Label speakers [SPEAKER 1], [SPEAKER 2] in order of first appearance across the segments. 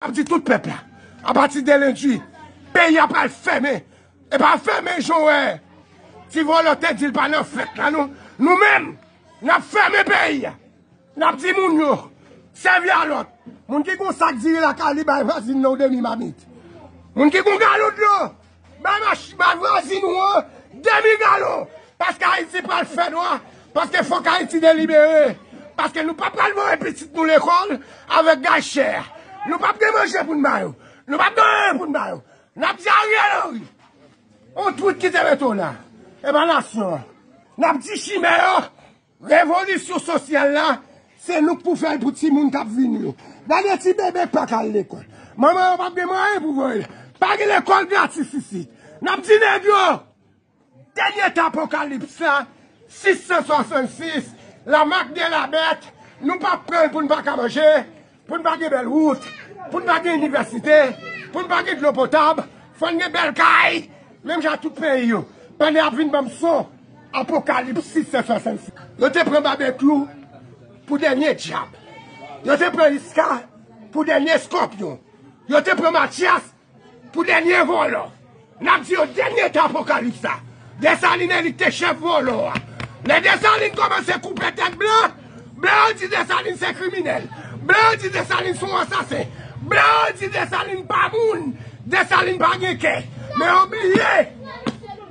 [SPEAKER 1] Ap di tout pèp la. A pati de lendi, peyi a pral fèmen. E pa fèmen jan w wè ti vòlò te di l pa nan fèt la non. Nou menm, n ap fèmen peyi a. N ap di moun yo, sèvi a lòt. Moun ki gen yon sak diri lakay li, bay vwazin nan yon demi mamit. Moun ki gen yon galon dlo. Bay mach bay vwazin ou an demi galon paske ayiti pral fè nwa paske fòk ayiti delibere paske nou pa pral voye pitit nou lekòl avèk gaz chè a nou pap gen manje pou n ba yo nou pap gen anyen pou n ba yo n ap di Ariel Henry on twit ki te mete w la e pa nasyon an n ap di chimè yo Revolisyon sosyal la, se nou k pou fè l pou timoun k ap vini yo. Gade ti bebe k pa ka al lekòl. Manman yo p ap gen mwayen pou voye l. Pa gen lekòl gratis isit. N ap di nèg yo, Dènye tan apokalips la, 666, la mak de la bèt, nou p ap pran l pou n pa ka manje, Pou n pa gen bèl wout, pou n pa gen inivèsite, pou n pa gen dlo potab, fò n gen bèl kay, menm jan ak tout peyi yo. Pandan y ap vin ban m son Apokalipsis 766. Yo te pran Babekyou pou dènye dyab. Yo te pran Iska pou dènye Skòpyon. Yo te pran Matyas Pou dènye vòlò, n ap di yo dènye tan apokalips la, Desalin elit te chèf vòlò a. Lè Desalin kòmanse koupe tèt blan, blan yo di Desalin se kriminèl, blan yo di Desalin se yon ansasen, blan yo di Desalin pa moun, Desalin pa gen kè. Men yo bliye,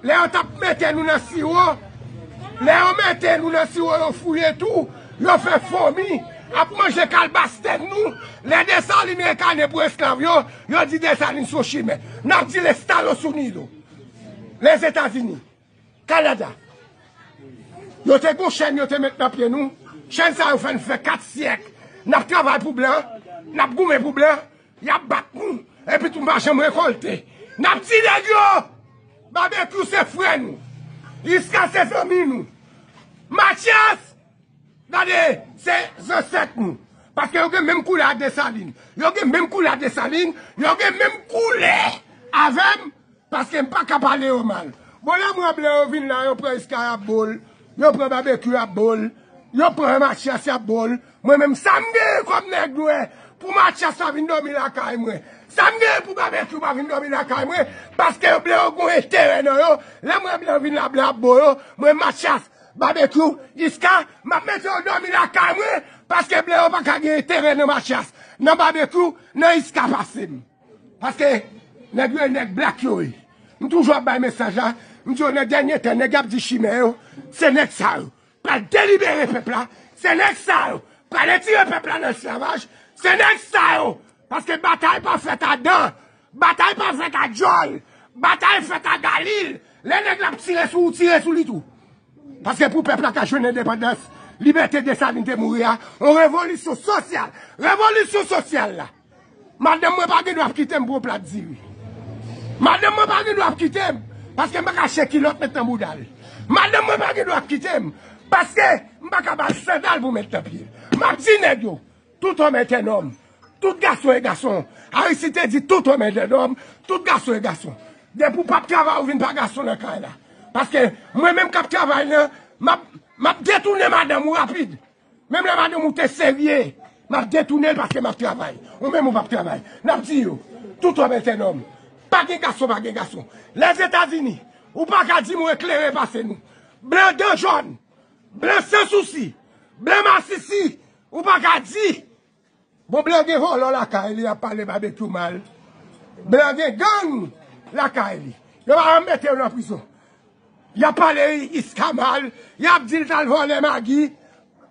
[SPEAKER 1] lè yo t ap mete nou nan siwo, lè yo mete nou nan siwo yo fouye tou, yo fè fomi ap manje kalbas tèt nou, lè Desalin rekane pou esklav yo, Yo di Desalin son chimè. Nap di les talos unidos. Les Etazini. Kanada. Yo te gon chèn yo te met nan pye nou. Chèn sa yo fè nou fè 4 syèk. Nap travay pou blan. Nap goumen pou blan. Yap bat nou. Epi tou nou pa janm rekolte. Nap ti nèg yo. Babekyou se frè nou. Iska se zanmi nou. Matyas Gade, se zansèt nou. Paske yo gen menm koulè a Desalin. Yo gen menm koulè a Desalin. Yo gen menm koulè avè m. Paske m pa ka pale yo mal. Bon, lè m ranble yo vin la, yo pran Iskay ap bo l. Yo pran Babekyou ap bo l. Yo pran Matyas y ap bo l. Mwen menm, sa m genyen kòm nèg nwè pou Matyas pa vin dòmi lakay mwen? Sa m genyen pou Babekyou pa vin dòmi lakay mwen? Paske yo ble yo gen yon enterè nan yo. Lè m ranble yo vin la, blan ap bo yo. Mwen, Matyas, Babekyou, Iska, map mete yo domi lakay mwen, paske bleo paka gen enterè nan matyas, nan babekyou, nan iska pasem. Paske nèg yo e nèg blak yo ye. M toujou ap bay mesaj la, m di yo nan dènye tan nèg yap di chimè yo, se nèg sa yo pral delibere pèp la, se nèg sa yo pral etire pèp la nan esklavaj, se nèg sa yo, paske batay pa fèt a dan, Batay pa fèt a djòl, batay fèt a galil, lè nèg la ap tire sou ou tire sou li tou. Paske pou pèp la ka jwenn endepandans, libète Desalin te mouri a, yon revolisyon sosyal, revolisyon sosyal la. Madanm mwen pa gen dwa ap kite m pou yon plat diri. Madanm mwen pa gen dwa ap kite m paske m pa ka achte kilòt met nan bouda l. Madanm mwen pa gen dwa ap kite m paske m pa ka ba l sandal pou met nan pye l. M ap di nèg yo. Tout homme est un homme. Tout gason e gason. Aristide te di tout homme est un homme. Tout gason e gason. Depi ou pap travay ou vin pa gason nan kay la. Paske mwen menm kap travay la, map detounen madanm ou rapid. Menm lè madanm ou te serye, map detounen l paske map travay. Ou menm ou pap travay. Nap di yo, tout homme est un homme. Pa gen gason pa gen gason. Lèzetazini, ou pa ka di mwen klere pase nou. Blan dan jòn, blan san sousi, blan masisi, Ou pa ka di! Bon blan gen vòlò lakay li ap pale babekyou mal. Blan gen gang lakay li. Yo pa janm mete yo nan prizon. Yap pale iska mal. Yap di l t al vòlè magi.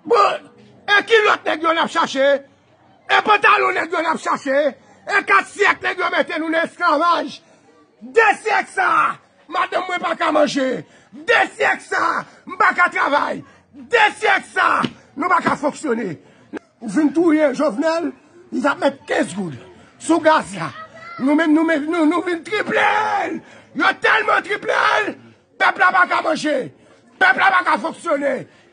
[SPEAKER 1] Bon e kilòt nèg yo nap chache? E pantalon nèg yo nap chache? E 4 syèk nèg yo mete nou nan esklavaj? 2 syèk sa a Madanm mwen pa ka manje. De syèk sa a, m pa ka travay. De syèk sa a, nou pa ka fonksyone. Ou fin touye Jovenel, li tap met 15 goud sou gaz la. Nou menm nou vin triple l. Yo telman triple l, pèp la pa ka manje. Pèp la pa ka fonksyone.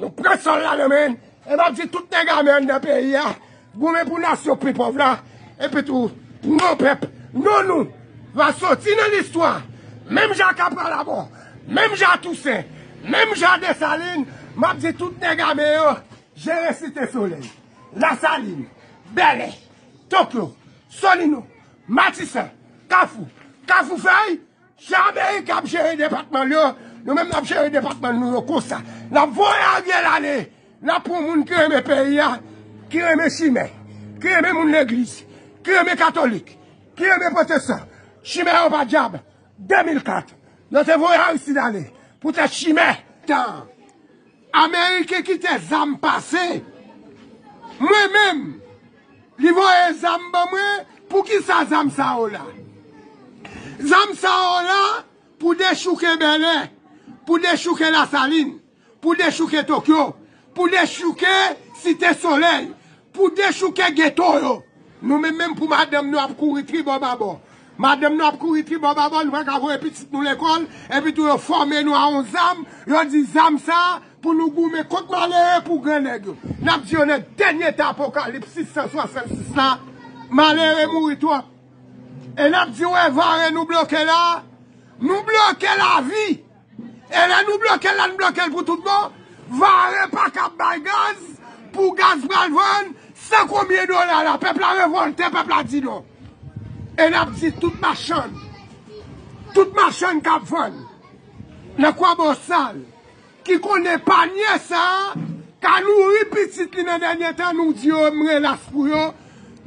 [SPEAKER 1] Nou pran sòl la nan men n. E m ap di tout nèg ame anndan peyi a, goumen pou nasyon pi pòv la, epitou pou non pèp, non nou, va soti nan listwa, menm jan ak Apralabò, menm jan ak Tousen, menm jan ak Desalin, m ap di tout nèg ame yo, jere Site Solèy, Lasalin, Bèlè, Tokyo, Solino, Matisan, Kafou, Kafoufèy! Jan America ap jere depatman l yo, nou menm nap jere depatman nou yo konsa. Nap voye Ariel ale, nap pran moun ki renmen peyi a, ki renmen chimè, ki renmen moun legliz, ki renmen katolik, ki renmen pwotestan. Chimè yo pa dyab. 2004, yo te voye Aristide ale poutèt chimè. Ameriken kite zam pase. Mwen menm Li voye zam ban mwen poukisa zam sa yo la zam sa yo la pou dechouke bèlè pou dechouke lasalin pou dechouke tokyo pou dechouke site solèy pou dechouke geto yo nou menm menm pou madanm nou ap kouri tribò babò Madanm nou ap kouri tribòbabò, nou pa ka voye pitit nou lekòl, epitou yo fòme nou a yon zam, yo di zam sa a pou nou goumen kont malere pou gran nèg yo. N ap di yo nan dènye tan apokalips 666 la, malere mouri twòp. E n ap di yo evare nou bloke la a, nou bloke lavi! E lè nou blokel la n blokel pou tout bon, vare paka ap bay gaz, pou gaz pral vann, san konbyen dola la, pèp la revolte, pèp la di non. E nap di tout machann, tout machann kap vann, nan kwa bosal, ki konnen panye sa, ka nouri pitit li nan dènye tan, nou di yo m relas pou yo,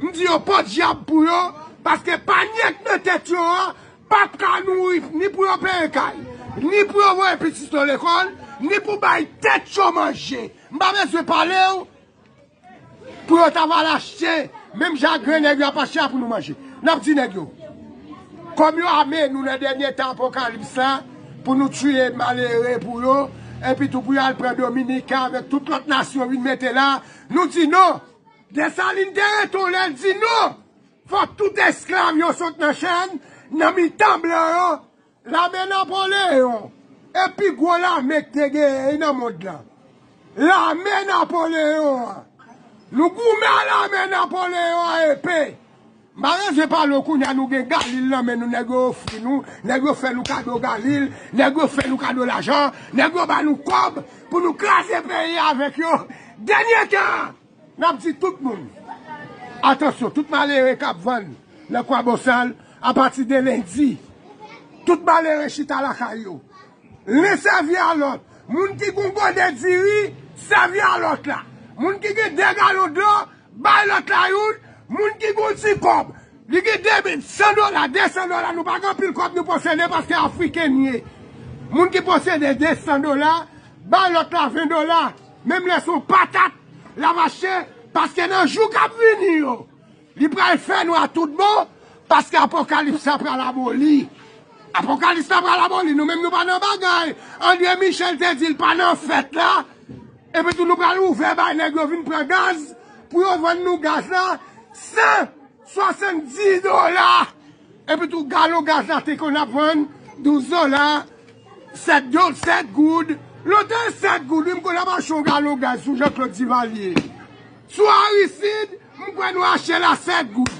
[SPEAKER 1] m di yo podyab pou yo, paske panye k nan tèt yo an, Pap ka nouri ni pou yo peye kay, ni pou yo voye pitit yo lekòl, ni pou bay tèt yo manje. M pa bezwen pale w pou yo ta va al achte menm jan ak grennèg yo ap achte a pou nou manje. N ap di nèg yo, kòm yo ame nou nan dènye tan apokalips la pou nou tiye malere pou yo, epitou pou yo al pran Dominiken avèk tout lòt nasyon vin mete la, nou di non. Desalin te reton lè l di non. Fòk tout esklav yo sot nan chenn nan mitan blan yo. Lame Napoleyon e pi gwo lame ki te genyen nan mond la. Lame Napoleyon an. Nou goumen a lame Napoleyon a epe. Malanje pa lo kounye a nou gen Galil nan men nou nèg yo ofri nou, nèg yo fè nou kado Galil, nèg yo fè nou kado lajan, nèg yo ba nou kòb pou nou kraze peyi avèk yo. Dènye tan! Nap di tout moun atansyon tout malere kap vann nan kwabosal apati de lendi tout malere chita lakay yo len sèvi a lòt moun ki gon gode diri sèvi a lòt la moun ki gen 2 galon dlo bay lòt la youn moun ki gon ti kòb li gen 2 men 100 dola 200 dola nou pa gen anpil kòb nou posede paske afriken nou ye moun ki posede 200 dola bay lòt la 20 dola. Menm lè son patat la mache paske nan jou kap vini yo li pral fè nwa tout bon paske apokalips la pral aboli apokalips la pral aboli nou menm nou pa nan bagay Andre Michel te dil pa nan fèt la epitou nou pral ouvè bay nèg yo vin pran gaz pou yo vann nou gaz la san 70 dola! Epi tou galon gaz la te konn ap vann 12 dola, 7 do, 7 goud. Lontan 7 goud wi m konn ap achte yon galon gaz sou Jean-Claude Duvalier. Sou Aristide, m kwè nou achte l a 7 goud.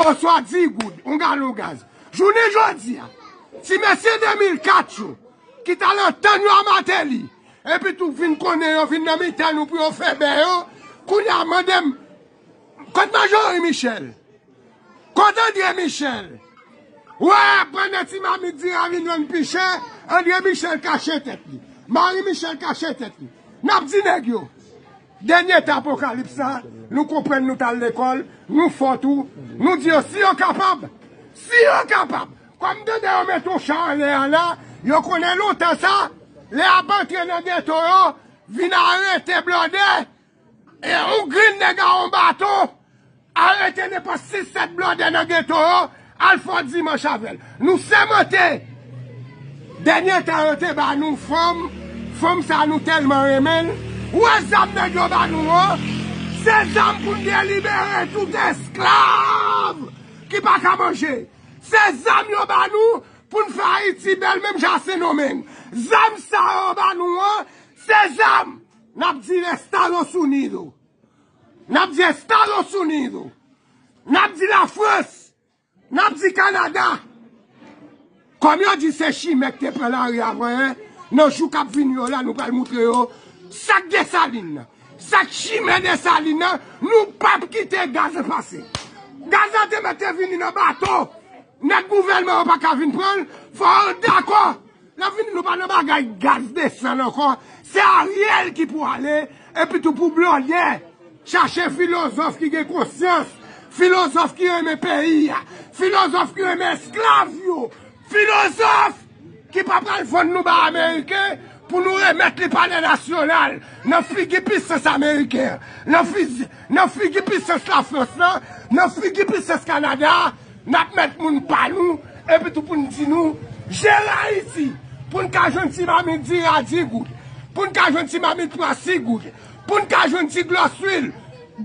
[SPEAKER 1] Oswa 10 goud, yon galon gaz. Jounen jodi a, ti mesye 2004 yo, ki t al antann yo a Martelly, epi tou vin konnen yo vin nan mitan nou pou yo fè bè yo, kounye a mande m, Kot Marjorie Michel? Kot André Michel? Wè, pandan ti mamit di a vin jwenn pi chè, André Michel kache tèt li. Marie Michel kache tèt li. N ap di nèg yo, dènye tan apokalips sa, nou konprann nou t al lekòl, nou fò tou, nou di yo si yo kapab, si yo kapab, kòm m tande yo mete yon cha anlè a la, yo konnen lontan sa, lè y ap antre nan geto yo, vin arete blòdè, E yon grenn nèg a yon baton arete nenpòt 6, 7 blòdè nan geto an, al fè yon dimanch avè l. Nou sèmante! Dènye tan yo te ba nou fanm, fanm sa nou tèlman renmen l. Ou wè zam nèg yo ba nou an? Se zam pou n te libere tout esklav ki pa ka manje. Se zam yo ba nou pou n fè Ayiti bèl menm jan a Sendomeng. Zam sa yo ba nou an, se zam Nap di Estados Unido. Nap di Estados Unido. Nap di la France. Nap di Canada. Kom yo di se chimè ki te pran la ri avan e nan jou kap vini yo la nou pral moutre yo sak Desalin nan. Sak chimè Desalin nan nou pap kite gaz la pase. Gaz la te mèt te vini nan bato. Nèg gouvelman an pa ka vin pran l. Fò ou dakò. Nap vini nou pa nan bagay gaz desann ankò se ariel ki pou ale epi tou pou blòdè chache filozòf ki gen konsyans filozòf ki renmen peyi a filozòf ki renmen esklav yo filozòf ki pa pral vann nou ba ameriken pou nou remèt li palè nasyonal nan figi pisans ameriken nan figi pisans lafrans nan figi pisans kanada Nap met moun pa nou epi tou poun di nou jere ayiti poun ka jwenn ti mamit diri a 10 goud poun ka jwenn ti mamit pwa 6 goud poun ka jwenn ti glòs lwil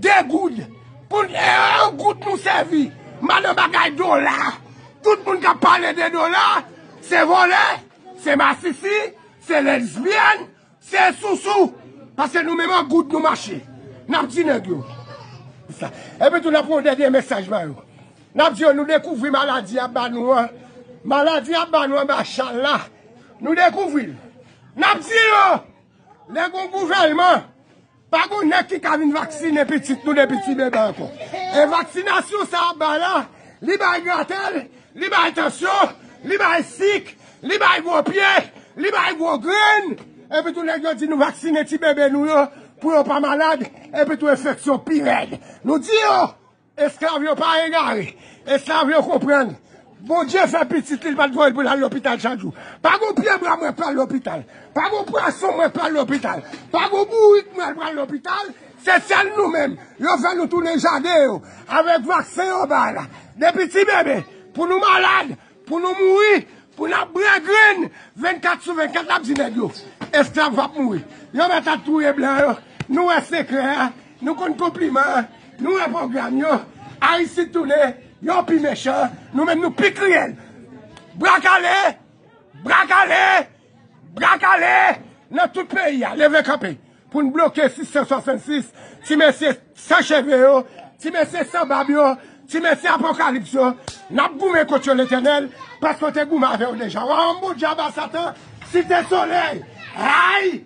[SPEAKER 1] 2 goud poun e 1 goud nou sèvi madan bagay dola tout moun kap pale de dola se vòlè se masisi se lesbyèn Se sousou, paske nou menm an goud nou mache. N ap di nèg yo. Epi tou n ap voye yon dènye mesaj ba yo. N ap di yo nou dekouvri maladi a ba nou an. Maladi a ba nou anba chal la. Nou dekouvri l. N ap di yo, lè gen yon gouvèlman. Pa gon nèg ki ka vin vaksinen pitit nou depi ti bebe ankò. E vaksinasyon sa ap bay la, li bay gratèl, li bay tansyon, li bay sik, li bay gwo pye, li bay gwo grenn. Epi tou nèg yo di nou vaksinen ti bebe nou yo pou yo pa malad, epi tou enfeksyon pi rèd. Nou di yo, Esklav yo pa egare, esklav yo konprann. Bondye fè pitit li, li pa t voye l pou l al lopital chak jou. Pa gon pyebwa mwen pral lopital, pa gon pwason mwen pral lopital, pa gon bourik mwen pral lopital, se sèl nou menm yo fè nou tounen jaden yo avèk vaksen yo bay la. Depi ti bebe pou nou malad, Pou nou mouri, pou n ap bran grenn 24 sou 24 n ap di nèg yo esklav va p mouri. Yo mèt ap touye blan yo, nou wè sekrè a, nou konn konpliman an, nou wè pwogram yo, Aristide tounen, yo pi mechan, nou menm nou pi kriyèl. Bra kale! Bra kale! Bra kale nan tout peyi a leve kanpe pou n bloke 666 ti mesye san cheve yo, ti mesye san bab yo, ti mesye apokalips yo. N ap goumen kont yo Letènèl paske w te goumen avè yo deja. Wa Anbodjaba Satan site solèy! Ray!